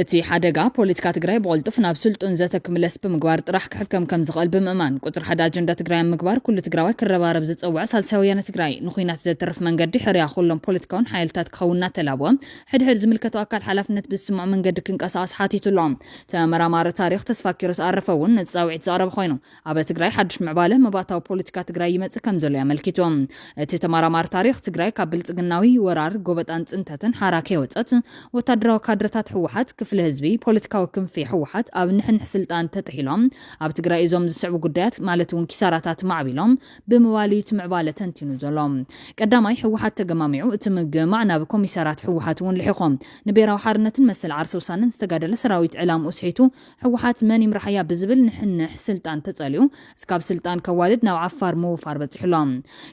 እቲ ሓደጋ ፖለቲካ ትግራይ ብቕልጡፍ ናብ ስልጡን ዘተ ክምለስ ብምግባር ጥራሕ ክሕከም ከምዝኽእል ብምእማን ቁፅሪ ሓደ ኣጀንዳ ትግራይ ኣብ ምግባር ኩሉ ትግራዋይ ክረባረብ ዝፀወዐ ሳልሳይ ወያነ ትግራይ ንኹናት ዘትርፍ መንገዲ ሕርያ ኩሎም ፖለቲካውን ሓይልታት ክኸውን እናተላበወ ሕድሕድ ዝምልከቶ ኣካል ሓላፍነት ብዝስምዖ መንገዲ ክንቀሳቐስ ሓቲቱ ኣሎ። ተመራማሪ ታሪኽ ተስፋኪሮስ ኣረፈ እውን ነቲ ፃውዒት ዘቕረበ ኮይኑ፣ ኣብ ትግራይ ሓዱሽ ምዕባለ መባእታዊ ፖለቲካ ትግራይ ይመጽእ ከም ዘሎ ኣመልኪቱ። እቲ ተመራማሪ ታሪኽ፣ ትግራይ ካብ ብልጽግናዊ ወራር፣ ጎበጣን ጽንተትን ሓራ ከይወጸት፣ ወታደራዊ ካድረታት ህወሓት፣ ክፍሊ ህዝቢ፣ ፖለቲካዊ ክንፊ ህወሓት ኣብ ንሕንሕ ስልጣን ተጥሒሎም፣ ኣብ ትግራይ እዞም ዝስዕቡ ጉዳያት ማለት እውን ኪሳራታት ማዕቢሎም ብምባል እዩ እቲ ምዕባለ ተንቲኑ ዘሎ። ቀዳማይ፣ ህወሓት ተገማሚዑ፣ እቲ ምግምማዕ ናብ ኮሚሳርያት ህወሓት እውን ልሒኾ፣ ንብሄራዊ ሓርነትን መሰል ዓርሰ ውሳነን ዝተጋደለ ሰራዊት ዕላምኡ ስሒቱ ህወሓት መን ይምራሓያ ብዝብል ንሕንሕ ስልጣን ተፀሊኡ እስካብ ስልጣን ከዋድድ ናብ ዓፋር ምውፋር በፂሑ ኣሎ።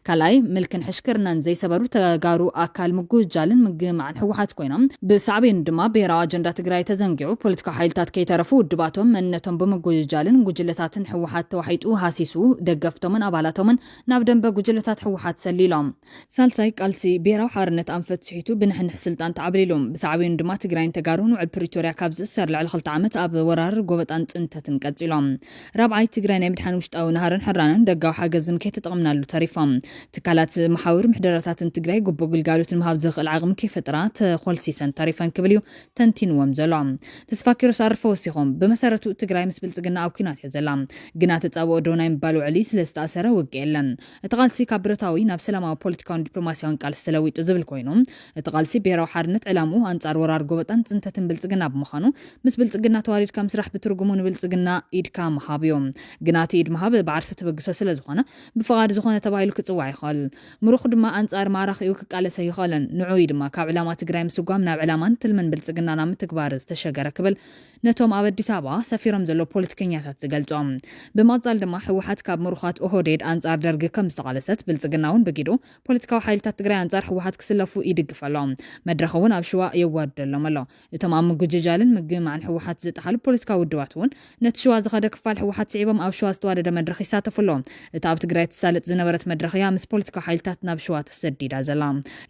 ካልኣይ ምልክን ሕሽክርናን ዘይሰበሩ ተጋሩ ኣካል ምጉህጃልን ምግህማዕን ህወሓት ኮይኖም ብሳዕቤኑ ድማ ብሄራዊ ኣጀንዳ ትግራይ ተዘንጊዑ ፖለቲካዊ ሓይልታት ከይተረፉ ውድባቶም መንነቶም ብምጉህጃልን ጉጅለታትን ህወሓት ተዋሒጡ ሃሲሱ ደገፍቶምን ኣባላቶምን ናብ ደምበ ጉጅለታት ህወሓት ሰሊሎም ሳልሳይ፣ ቃልሲ ብሄራዊ ሓርነት ኣንፈት ስሒቱ ብንሕንሕ ስልጣን ተዓብሊሉ። ብሳዕቤኑ ድማ ትግራይን ተጋሩን ውዕል ፕሪቶርያ ካብ ዝእሰር ልዕሊ ክልተ ዓመት ኣብ ወራር፣ ጎበጣን ፅንተትን ቀፂሎም። ራብዓይ፣ ትግራይ ናይ ምድሓን ውሽጣዊ ናህርን ሕራነን ደጋዊ ሓገዝን ከይተጠቕምናሉ ተሪፎም። ትካላት መሓውር ምሕደራታትን ትግራይ ግቡእ ግልጋሎት ንምሃብ ዘኽእል ዓቕሚ ከይፈጠራ ተኾልሲሰን ተሪፈን ክብል እዩ ተንቲንዎም ዘሎ። ተስፋኪሮስ ኣርፈ ወሲኾም። ብመሰረቱ ትግራይ ምስ ብልፅግና ኣብ ኲናት እያ ዘላ። ግና ተፃብኦ ዶ ናይ ምባል ውዕሊ ስለዝተኣሰረ ውግእ የለን። እቲ ቃልሲ ካብ ብረታዊ ናብ ሰላማዊ ፖለቲካውን ዲፕሎማሲያውን ቃልሲ ተለዊጡ ዝብል ኮይኑ እቲ ቃልሲ ብሄራዊ ሓርነት ዕላምኡ ኣንፃር ወራር ጎበጣን ፅንተትን ብልፅግና ብምዃኑ ምስ ብልፅግና ተዋዲድካ ምስራሕ ብትርጉሙ ንብልፅግና ኢድካ ምሃብ እዩ። ግና እቲ ኢድ ምሃብ ብዓርሰ ተበግሶ ስለዝኾነ ብፍቓድ ዝኾነ ተባሂሉ ክፅዋዕ ይኽእል። ምሩኽ ድማ ኣንፃር ማራኺኡ ክቃለስ ኣይኽእልን። ንዑኡ እዩ ድማ ካብ ዕላማ ትግራይ ምስጓም ናብ ዕላማን ትልምን ብልፅግና ናብ ምትግባር ዝተሸገረ ክብል ነቶም ኣብ ኣዲስ ኣበባ ሰፊሮም ዘለዉ ፖለቲከኛታት ዝገልጾም። ብምቕጻል ድማ ህወሓት ካብ ምሩኻት ኦሆዴድ ኣንጻር ደርጊ ከም ዝተቓለሰት፣ ብልጽግና'ውን ብጊዱ ፖለቲካዊ ሓይልታት ትግራይ ኣንጻር ህወሓት ክስለፉ ይድግፍ ኣሎ። መድረኽ'ውን ኣብ ሽዋ የዋድደሎም ኣሎ። እቶም ኣብ ምጉጅጃልን ምግምማዕን ህወሓት ዝጠሓሉ ፖለቲካዊ ውድባት'ውን ነቲ ሽዋ ዝኸደ ክፋል ህወሓት ስዒቦም ኣብ ሽዋ ዝተዋደደ መድረኽ ይሳተፉ ኣለዉ። እታ ኣብ ትግራይ ትሳለጥ ዝነበረት መድረኽ እያ ምስ ፖለቲካዊ ሓይልታት ናብ ሽዋ ተሰዲዳ ዘላ።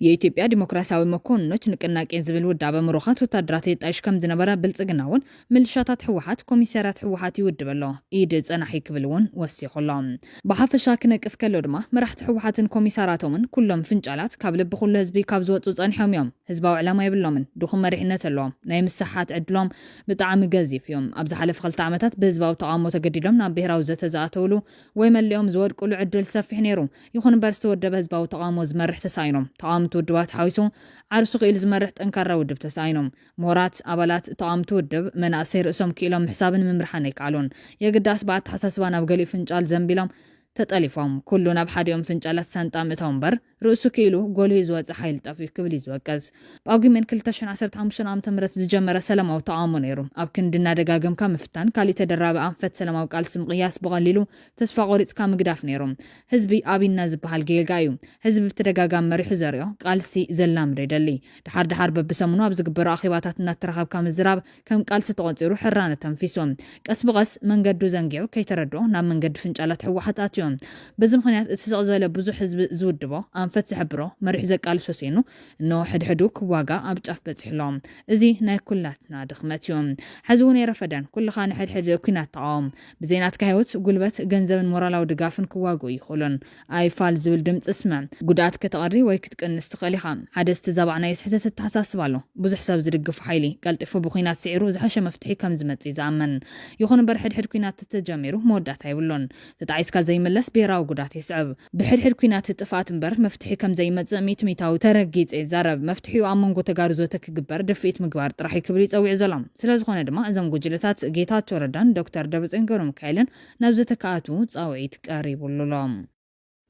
የኢትዮጵያ ዲሞክራሲያዊ መኮንኖች ንቅናቄ ዝብል ውዳበ ምሩኻት ወታደራት የጣይሽ ከም ዝነበረ ብልጽግና እውን ምልሻታት ህወሓት ኮሚሳርያት ህወሓት ይውድብ ኣሎ ኢድ ጸናሒ ክብል እውን ወሲኹ ኣሎ። ብሓፈሻ ክነቅፍ ከሎ ድማ መራሕቲ ህወሓትን ኮሚሳራቶምን ኩሎም ፍንጫላት ካብ ልቢ ኩሉ ህዝቢ ካብ ዝወጹ ጸኒሖም እዮም። ህዝባዊ ዕላማ የብሎምን። ድኹም መሪሕነት ኣለዎም። ናይ ምስሕሓት ዕድሎም ብጣዕሚ ገዚፍ እዩ። ኣብ ዝሓለፈ ክልተ ዓመታት ብህዝባዊ ተቓውሞ ተገዲዶም ናብ ብሄራዊ ዘተ ዝኣተውሉ ወይ መሊኦም ዝወድቅሉ ዕድል ሰፊሕ ነይሩ። ይኹን እምበር ዝተወደበ ህዝባዊ ተቓውሞ ዝመርሕ ተሳኢኑ። ተቓወምቲ ውድባት ሓዊሱ ዓርሱ ክኢሉ ዝመርሕ ጠንካራ ውድብ ተሳኢኑ። ምሁራት፣ ኣባላት፣ ተቓወምቲ ውድብ፣ መናእሰይ ርእሶም ክኢሎም ምሕሳብን ምምርሓን ኣይከኣሉን። የግዳስ ብኣተሓሳስባ ናብ ገሊኡ ፍንጫል ዘንቢሎም ተጠሊፎም። ኩሉ ናብ ሓዲኦም ፍንጫላት ሳንጣ ምእታው እምበር። ርእሱ ክኢሉ ጎሊሁ ዝወጸ ሓይሊ ጠፊኡ ክብል እዩ ዝወቅስ። ጳጉሜን ክልተ ሽሕን ዓሰርተ ሓሙሽተን ዓመተ ምህረት ዝጀመረ ሰላማዊ ተቓውሞ ነይሩ። ኣብ ክንዲ እናደጋገምካ ምፍታን፣ ካሊእ ተደራቢ ኣንፈት ሰላማዊ ቃልሲ ምቕያስ ብቐሊሉ ተስፋ ቆሪጽካ ምግዳፍ ነይሩ። ህዝቢ ኣብይና ዝበሃል ጌጋ እዩ ህዝቢ ብተደጋጋሚ መሪሑ ዘሪኦ፣ ቃልሲ ዘላምዶ ይደሊ። ደሓር ደሓር በብሰሙኑ ኣብ ዝግበሩ ኣኼባታት እናተራኸብካ ምዝራብ፣ ከም ቃልሲ ተቖጺሩ ሕራነ ኣተንፊሱ። ቀስ ብቐስ መንገዱ ዘንጊዑ ከይተረድኦ ናብ መንገዲ ፍንጫላት ህወሓት ኣትዩ። በዚ ምኽንያት እቲ ስቕ ዝበለ ብዙሕ ህዝቢ ዝውድቦ፣ ኣንፈት ዝሕብሮ፣ መሪሑ ዘቃልሶ ስኢኑ እነሆ ሕድሕዱ ክዋጋእ ኣብ ጫፍ በጺሑ ኣሎ። እዚ ናይ ኩላትና ድኽመት እዩ። ሐዚ'ውን ኣይረፈደን። ኩልኻ ንሕድሕድ ኩናት ተቓወም። ብዘይ ናትካ ህይወት፣ ጉልበት፣ ገንዘብን ሞራላዊ ድጋፍን ክዋግኡ ኣይኽእሉን። ኣይ ፋል ዝብል ድምጺ ስምዕ። ጉድኣት ከተቐሪ ወይ ክትቅንስ ትኽእል ኢኻ። ሓደ ዝተዛባዕ ናይ ስሕተት ኣተሓሳስባ ኣሎ። ብዙሕ ሰብ ዝድግፎ ሓይሊ፣ ቀልጢፉ ብኲናት ስዒሩ ዝሐሸ መፍትሒ ከም ዝመጽእ እዩ ዝኣምን። ይኹን እምበር ሕድሕድ ኲናት ተተጀሚሩ መወዳእታ የብሉን። ተጣዒስካ ዘይምለስ ብሄራዊ ጉድኣት የስዕብ። ብሕድሕድ ኲናት ጥፍኣት እምበር መፍትሒ ከም ዘይመጽእ ሚእቲ ሚታዊ ተረጊጸ ይዛረብ። መፍትሒኡ ኣብ መንጎ ተጋሩ ዘተ ክግበር ድፍኢት ምግባር ጥራሕ እዩ ክብል እዩ ጸዊዑ ዘሎ። ስለዝኾነ ድማ እዞም ጉጅለታት ጌታቸው ረዳን ዶክተር ደብረጽዮን ገብረሚካኤልን፣ ናብ ዘተ ክኣትዉ ጻውዒት ቀሪቡሉ'ሎ።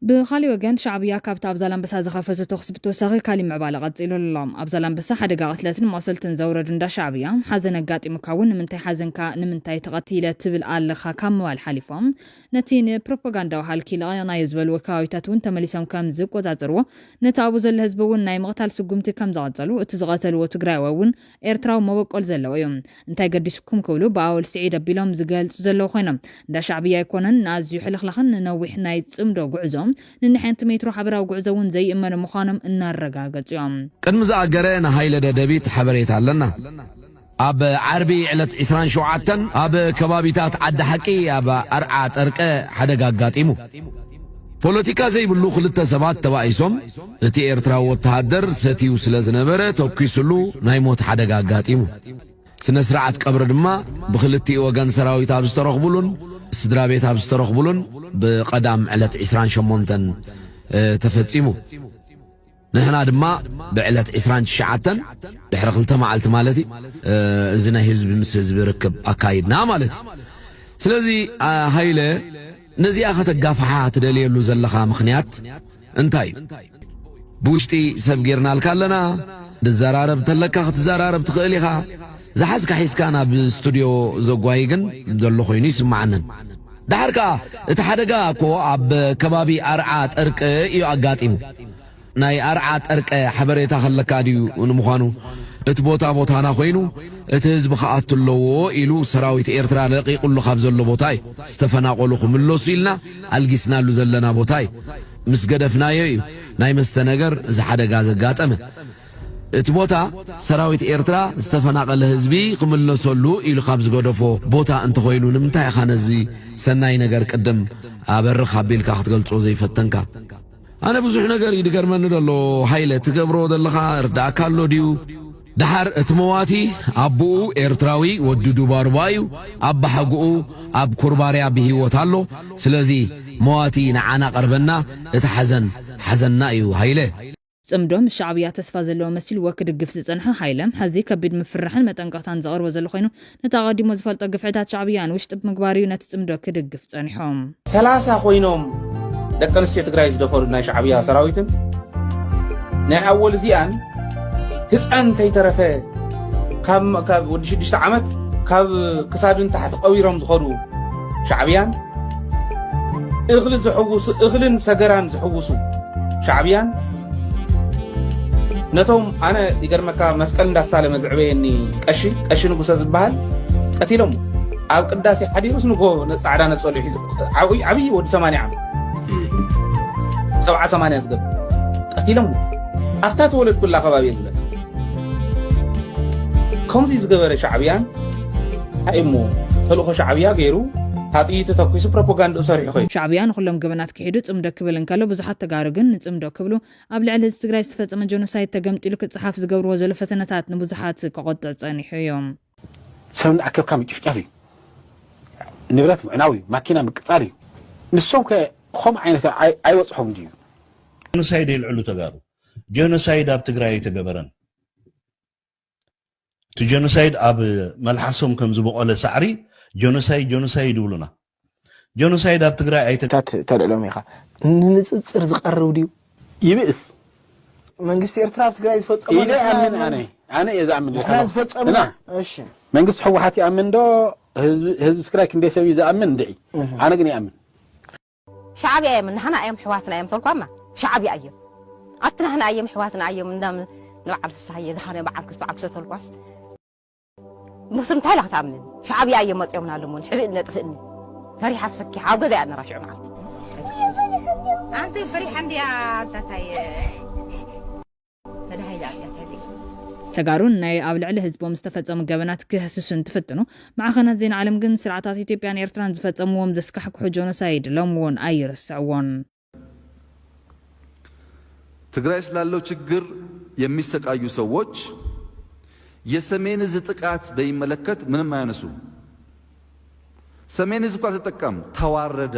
ብኻሊእ ወገን ሻዕብያ ካብቲ ኣብ ዛላምበሳ ዝኸፈቶ ተኹሲ ብተወሳኺ ካሊእ ምዕባለ ቀጺሉሉ'ሎ። ኣብ ዛላምበሳ ሓደጋ ቅትለትን መቑሰልትን ዘውረዱ እንዳ ሻዕብያ፣ ሓዘን ኣጋጢሙካ'ውን ንምንታይ ሓዘንካ ንምንታይ ተቐቲለ ትብል ኣለኻ ካብ ምባል ሓሊፎም ነቲ ንፕሮፖጋንዳዊ ሃልኪ ለቒቕናዮ ዝበልዎ ከባቢታት'ውን ተመሊሶም ከም ዝቆጻጸርዎ ነቲ ኣብኡ ዘሎ ህዝቢ'ውን ናይ ምቕታል ስጉምቲ ከም ዝቐጸሉ እቲ ዝቐተልዎ ትግራይዋይ'ውን ኤርትራዊ መበቆል ዘለዎ እዩ እንታይ ገዲሱኩም ክብሉ ብኣወል ስዒድ ኣቢሎም ዝገልጹ ዘለዉ ኮይኖም እንዳ ሻዕብያ ኣይኮነን ንኣዝዩ ሕልኽላኽን ንነዊሕ ናይ ጽምዶ ጉዕዞ ንንሐንቲ ሜትሮ ሐበራዊ ጉዕዞ ውን ዘይእመኑ ምዃኖም እናረጋገጹ እዮም። ቅድሚ ዝኣገረ ንሃይለ ደደቢት ሐበሬታ ኣለና ኣብ ዓርቢ ዕለት ዕስራን ሸውዓተን ኣብ ከባቢታት ዓዲ ሐቂ ኣብ ኣርዓ ጠርቀ ሐደጋ ኣጋጢሙ ፖለቲካ ዘይብሉ ክልተ ሰባት ተባኢሶም እቲ ኤርትራዊ ወተሃደር ሰትዩ ስለ ዝነበረ ተኲሱሉ ናይ ሞት ሓደጋ ኣጋጢሙ። ስነ-ስርዓት ቀብሪ ድማ ብኽልቲኡ ወገን ሰራዊት ኣብ ዝተረኽቡሉን ስድራቤት ኣብ ዝተረኽቡሉን ብቀዳም ዕለት ዕስራን ሸሞንተን ተፈጺሙ። ንሕና ድማ ብዕለት ዕስራን ትሽዓተን ድሕሪ ክልተ መዓልቲ ማለት እዩ እዚ ናይ ህዝቢ ምስ ህዝቢ ርክብ ኣካይድና ማለት እዩ። ስለዚ ሃይለ ነዚኣ ከተጋፍሓ ትደልየሉ ዘለኻ ምኽንያት እንታይ እዩ? ብውሽጢ ሰብ ጌርናልካ ኣለና፣ ድዘራረብ እንተለካ ክትዘራረብ ትኽእል ኢኻ፣ ዝሓዝካ ሒዝካ ናብ ስቱድዮ ዘጓይ ግን ዘሎ ኮይኑ ኣይስምዓንን። ደሓር ከኣ እቲ ሓደጋ እኮ ኣብ ከባቢ ኣርዓ ጠርቂ እዩ ኣጋጢሙ። ናይ ኣርዓ ጠርቀ ሐበሬታ ከለካ ድዩ ንምዃኑ እቲ ቦታ ቦታና ኮይኑ እቲ ህዝቢ ክኣቱ ኣለዎ ኢሉ ሰራዊት ኤርትራ ለቂቁሉ ካብ ዘሎ ቦታ እዩ ዝተፈናቆሉ ክምለሱ ኢልና ኣልጊስናሉ ዘለና ቦታ እዩ ምስ ገደፍናዮ እዩ ናይ መስተ ነገር እዚ ሐደጋ ዘጋጠመ እቲ ቦታ ሰራዊት ኤርትራ ዝተፈናቀለ ህዝቢ ክምለሰሉ ኢሉ ካብ ዝገደፎ ቦታ እንተኾይኑ ንምንታይ ኢኻ ነዚ ሰናይ ነገር ቅድም ኣበርኽ ኣቢልካ ክትገልጾ ዘይፈተንካ ኣነ ብዙሕ ነገር እዩ ድገርመኒ ደሎ ሃይለ ትገብሮ ደለኻ እርዳእካ ኣሎ ድዩ ደሓር እቲ መዋቲ ኣቡኡ ኤርትራዊ ወዲ ዱባሩባ እዩ ኣባሓጉኡ ኣብ ኩርባርያ ብሂወት ኣሎ ስለዚ መዋቲ ንዓና ቀርበና እቲ ሓዘን ሓዘንና እዩ ሃይለ ጽምዶ ምስ ሻዕብያ ተስፋ ዘለዎ መሲልዎ ክድግፍ ዝጸንሐ ሃይለ፣ ሐዚ ከቢድ ምፍርራሕን መጠንቀቕታን ዘቕርቦ ዘሎ ኮይኑ፣ ነቲ ኣቐዲሙ ዝፈልጦ ግፍዕታት ሻዕብያ ንውሽጢ ብምግባር እዩ ነቲ ጽምዶ ክድግፍ ጸኒሖም። ሰላሳ ኮይኖም ደቂ ኣንስትዮ ትግራይ ዝደፈሩ ናይ ሻዕብያ ሰራዊትን ናይ ኣወል እዚኣን ህፃን ከይተረፈ ካብ ወዲ ሽዱሽተ ዓመት ካብ ክሳዱን ታሕቲ ቀቢሮም ዝኸዱ ሻዕብያን እኽሊ ዝሕውሱ እኽልን ሰገራን ዝሕውሱ ሻዕብያን ነቶም ኣነ ይገርመካ መስቀል እንዳተሳለመ ዝዕበየኒ ቀሺ ቀሺ ንጉሰ ዝበሃል ቀቲሎሞ ኣብ ቅዳሴ ሓዲሩስ ንጎ ፃዕዳ ነፀሉ ሒዙ ዓብይ ወዲ ሰማንያ ዓመት ሰብዓ ሰማንያ ዝገብ ቀቲሎሞ ኣብታ ተወለድኩላ ከባቢ እየ ዝብለካ ከምዚ ዝገበረ ሻዕብያን እንታይ እሞ ተልእኮ ሻዕብያ ገይሩ ኣጥይቱ ተኪሱ ፕሮፓጋንድኡ ሰሪሑ ኮይኑ ሻዕብያ ንኩሎም ገበናት ክሒዱ ፅምዶ ክብል እንከሎ ብዙሓት ተጋሩ ግን ንፅምዶ ክብሉ ኣብ ልዕሊ ህዝቢ ትግራይ ዝተፈፀመ ጆኖሳይድ ተገምጢሉ ክፀሓፍ ዝገብርዎ ዘሎ ፈተነታት ንብዙሓት ከቖጥዕ ፀኒሑ እዩ። ሰብ እናኣከብካ ምጭፍጫፍ እዩ። ንብረት ምዕናው እዩ። ማኪና ምቅፃል እዩ። ንሶም ከ ኾምኡ ዓይነት ኣይ ኣይበፅሖም ድዩ? ጆኖሳይድ የልዕሉ ተጋሩ። ጆኖሳይድ ኣብ ትግራይ ኣይተገበረን። እቲ ጆኖሳይድ ኣብ መልሓሶም ከም ዝቦቖለ ሳዕሪ ጆኖሳይድ ጆኖሳይድ ይብሉና ጆኖሳይድ ኣብ ትግራይ ኣይተ ታት ተልዕሎም ኢኻ ንንፅፅር ዝቀርብ ድዩ? ይብእስ። መንግስቲ ኤርትራ ኣብ ትግራይ ዝፈጸሞ ኢለ ንሕና ይኣምን ኣነ መንግስቲ- ኣነ እየ ዝኣምን ንሕና ዘለኹ። ዝፈጸምና እና እሺ መንግስቲ ህወሓት ይኣምን ዶ ህዝቢ ህዝቢ ትግራይ ክንደይ ሰብ እዩ ዝኣምን እንድዒ ኣነ ግን ይኣምን ሻዕብያ እዮም ናህና እዮም ሕዋትና እዮም ተልኳማ ሻዕብያ እዮም ኣቲ ናህና እዮም ሕዋትና እዮም እንዳም ንበዓል ፍስሃየ ዝሃነ በዓል ክስቶ ዓክሰ ተልኳስ ንሱ እንታይ ኢላ ክትኣምንን ሻዕብያ እዮም መፅኦምና ልሙን ሕብእኒ ነጥፍእኒ ፈሪሓ ፍሰኪሓ ኣብ ገዛ እያ ነራ ሽዑ መዓልቲ ኣንቲ ፈሪሓ እንድያ ኣንታታይ ተጋሩ ንናይ ኣብ ልዕሊ ህዝቦም ዝተፈጸሙ ገበናት ክህስሱ እንትፍትኑ፣ ማዕኸናት ዜና ዓለም ግን ስርዓታት ኢትዮጵያን ኤርትራን ዝፈጸምዎም ዘስካሕክሑ ጆኖሳይድ ሎሚ እውን ኣይርስዕዎን። ትግራይ ስላለው ችግር የሚሰቃዩ ሰዎች የሰሜን እዝ ጥቃት በሚመለከት ምንም አያነሱም። ሰሜን እዝ እኮ አልተጠቃም፣ ተዋረደ።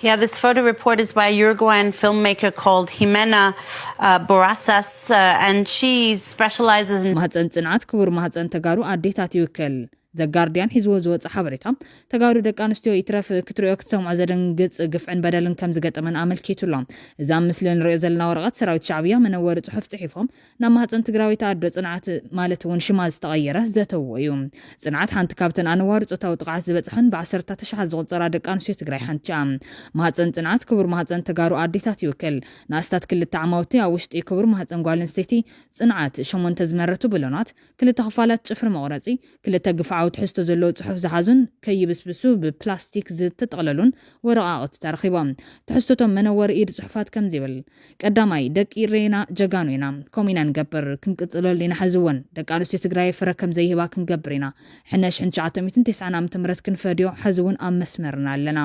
Yeah, this photo report is by a Uruguayan filmmaker called Jimena uh, Borrasas, uh, and she specializes in. ማህፀን ፅንዓት ክቡር ማህፀን ተጋሩ ኣዴታት ይውክል ዘጋርድያን ሂዝዎ ዝወፀ ሓበሬታ ተጋሩ ደቂ ኣንስትዮ ይትረፍ ክትሪኦ ክትሰምዖ ዘደንግፅ ግፍዕን በደልን ከም ዝገጠመን ኣመልኪቱ ኣሎ እዚ ኣብ ምስሊ ንሪኦ ዘለና ወረቐት ሰራዊት ሻዕብያ መነወሪ ፅሑፍ ፅሒፎም ናብ ማህጸን ትግራወይቲ ኣዶ ጽንዓት ማለት እውን ሽማ ዝተቐየረ ዘተዎ እዩ። ጽንዓት ሓንቲ ካብተን ኣነዋሪ ጾታዊ ጥቕዓት ዝበጽሐን ብዓሰርታት ኣሽሓት ዝቑጸራ ደቂ ኣንስትዮ ትግራይ ሓንቲ እያ። ማህጸን ጽንዓት ክቡር ማህጸን ተጋሩ ኣዴታት ይውክል። ንኣስታት ክልተ ዓማውቲ ኣብ ውሽጢ ክቡር ማህጸን ጓል ኣንስተይቲ ጽንዓት፣ ሸሞንተ ዝመረቱ ብሎናት፣ ክልተ ክፋላት ጽፍሪ መቑረጺ፣ ክልተ ግፍዓዊ ትሕዝቶ ዘለዎ ጽሑፍ ዝሓዙን ከይብስብሱ ብፕላስቲክ ዝተጠቕለሉን ወረቓቕቲ ተረኺቦም። ትሕዝቶ'ቶም መነወሪ ኢድ ጽሑፋት ከምዚ ይብል፣ ቀዳማይ፣ ደቂ ኢሬና ጀጋኑ ኢና፣ ከምኡ ኢና ንገብር፣ ክንቅጽለሉ ኢና ሕዚ'ውን። ደቂ ኣንስትዮ ትግራይ ፍረ ከም ዘይህባ ክንገብር ኢና። ሕነ ሽሕን ትሽዓተ ሚእትን ቴስዓን ዓመተ ምህረት ክንፈድዮ ሕዚ'ውን ኣብ መስመርና ኣለና።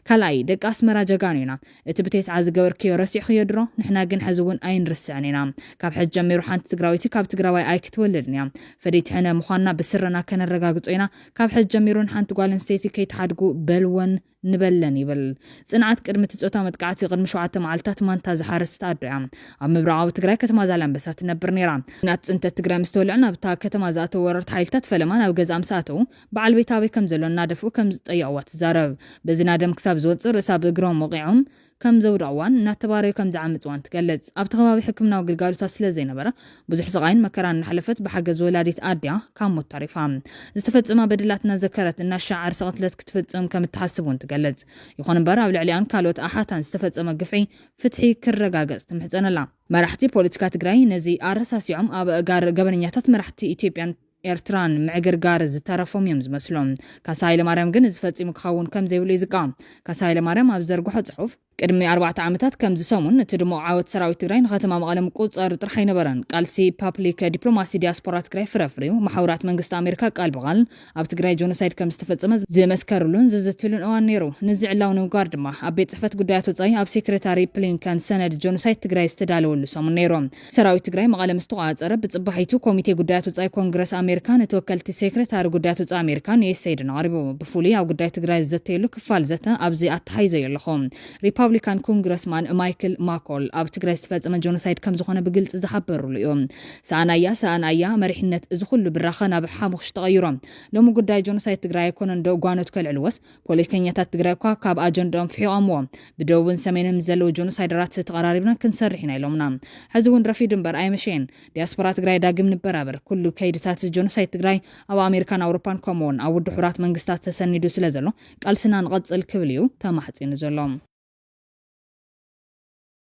ካልኣይ፣ ደቂ ኣስመራ ጀጋኑ ኢና፣ እቲ ብቴስዓ ዝገበርክዮ ረሲዕኽዮ ድሮ ንሕና ግን ሐዚ እውን ኣይንርስዕን ኢና ካብ ሐዚ ጀሚሩ ሓንቲ ትግራወይቲ ካብ ትግራዋይ ኣይክትወልድን እያ ፈደይቲ ሕነ ምኳንና ብስረና ከነረጋግፆ ኢና ካብ ሐዚ ጀሚሩ ንሓንቲ ጓል ኣንስተይቲ ከይትሓድጉ በልወን ንበለን ይብል ፅንዓት ቅድሚ እቲ ፆታዊ መጥቃዕቲ ቅድሚ ሸውዓተ መዓልትታት ማንታ ዝሓረስት ኣዶ እያ ኣብ ምብራቓዊ ትግራይ ከተማ ዛላንበሳ ትነብር ነይራ ኩናት ፅንተት ትግራይ ምስ ተወልዐ ናብታ ከተማ ዝኣተው ወረርቲ ሓይልታት ፈለማ ናብ ገዝኣ ምስ ኣተው በዓል ቤታ ኣበይ ከም ዘሎ እናደፍኡ ከም ዝጠየቕዋ ትዛረብ። በዚ ናደም ክሳብ ዝወጽእ ርእሳ ብእግሮም ወቒዖም ከም ዘውደቕዋን እናተባረዩ ከም ዝዓመጽዋን ትገልጽ። ኣብቲ ከባቢ ሕክምናዊ ግልጋሎታት ስለ ዘይነበረ ብዙሕ ስቓይን መከራን እናሕለፈት ብሓገዝ ወላዲት ኣድያ ካብ ሞት ተሪፋ። ዝተፈጸማ በደላት እናዘከረት እናሻዕ ዓርሰ ቅትለት ክትፍጽም ከም እትሓስብ እውን ትገልጽ። ይኹን እምበር ኣብ ልዕሊኣን ካልኦት ኣሓታን ዝተፈጸመ ግፍዒ ፍትሒ ክረጋገጽ ትምሕጸን ኣላ። መራሕቲ ፖለቲካ ትግራይ ነዚ ኣረሳሲዖም ኣብ ኣእጋር ገበነኛታት መራሕቲ ኢትዮጵያን፣ ኤርትራን ምዕግርጋር ዝተረፎም እዮም ዝመስሉ። ካሳ ሃይለማርያም ግን እዚ ፈጺሙ ክኸውን ከም ዘይብሉ እዩ ዝቃወም። ካሳ ሃይለማርያም ኣብ ዝዘርግሖ ጽሑፍ፣ ቅድሚ ኣርባዕተ ዓመታት ከምዚ ሰሙን እቲ ድሙቕ ዓወት ሰራዊት ትግራይ ንከተማ መቐለ ምቁጽጻሩ ጥራሕ ኣይነበረን። ቃልሲ ፓፕሊክ ዲፕሎማሲ ዲያስፖራ ትግራይ ፍረ ኣፍርዩ። መሓውራት መንግስቲ ኣሜሪካ ቃል ብቓል ኣብ ትግራይ ጆኖሳይድ ከም ዝተፈጸመ ዝመስከርሉን ዝዝትሉን እዋን ነይሩ። ንዚ ዕላዊ ንምግባር ድማ ኣብ ቤት ጽሕፈት ጉዳያት ወጻኢ ኣብ ሴክሬታሪ ፕሊንከን ሰነድ ጆኖሳይድ ትግራይ ዝተዳለወሉ ሰሙን ነይሩ። ሰራዊት ትግራይ መቐለ ምስ ተቖፃፀረ ብፅባሒቱ ኮሚቴ ጉዳያት ወፃኢ ኮንግረስ ኣሜሪካ ንተወከልቲ ሴክሬታሪ ጉዳያት ወፃኢ ኣሜሪካ ንዩኤስኤይድን ኣቕሪቡ። ብፍሉይ ኣብ ጉዳይ ትግራይ ዝዘተየሉ ክፋል ዘተ ኣብዚ ኣተሓሒዘዮ ኣለኹ። ሪፓብሊካን ኮንግረስማን ማይክል ማኮል ኣብ ትግራይ ዝተፈፀመ ጆኖሳይድ ከምዝኾነ ብግልፂ ዝሓበርሉ እዩ። ሰኣናያ ሰኣናያ መሪሕነት እዚ ኹሉ ብራኸ ናብ ሓሙኽሽ ተቐይሮ። ሎሚ ጉዳይ ጆኖሳይድ ትግራይ ኣይኮነንዶ ጓኖት ከልዕልዎስ ፖለቲከኛታት ትግራይ እኳ ካብ ኣጀንድኦም ፍሒቖምዎ ብደቡብን ሰሜንን ምስ ዘለዉ ጆኖሳይደራት ተቐራሪብና ክንሰርሕ ኢና ኢሎምና። ሕዚ እውን ረፊዱ እምበር ኣይመሸየን። ዲያስፖራ ትግራይ ዳግም ንበራበር። ኩሉ ከይድታት ጆኖሳይድ ትግራይ ኣብ ኣሜሪካን ኣውሮፓን ከምኡ እውን ኣብ ውድብ ሕቡራት መንግስታት ተሰኒዱ ስለ ዘሎ ቃልስና ንቐጽል ክብል እዩ ተማሕጺኑ ዘሎ።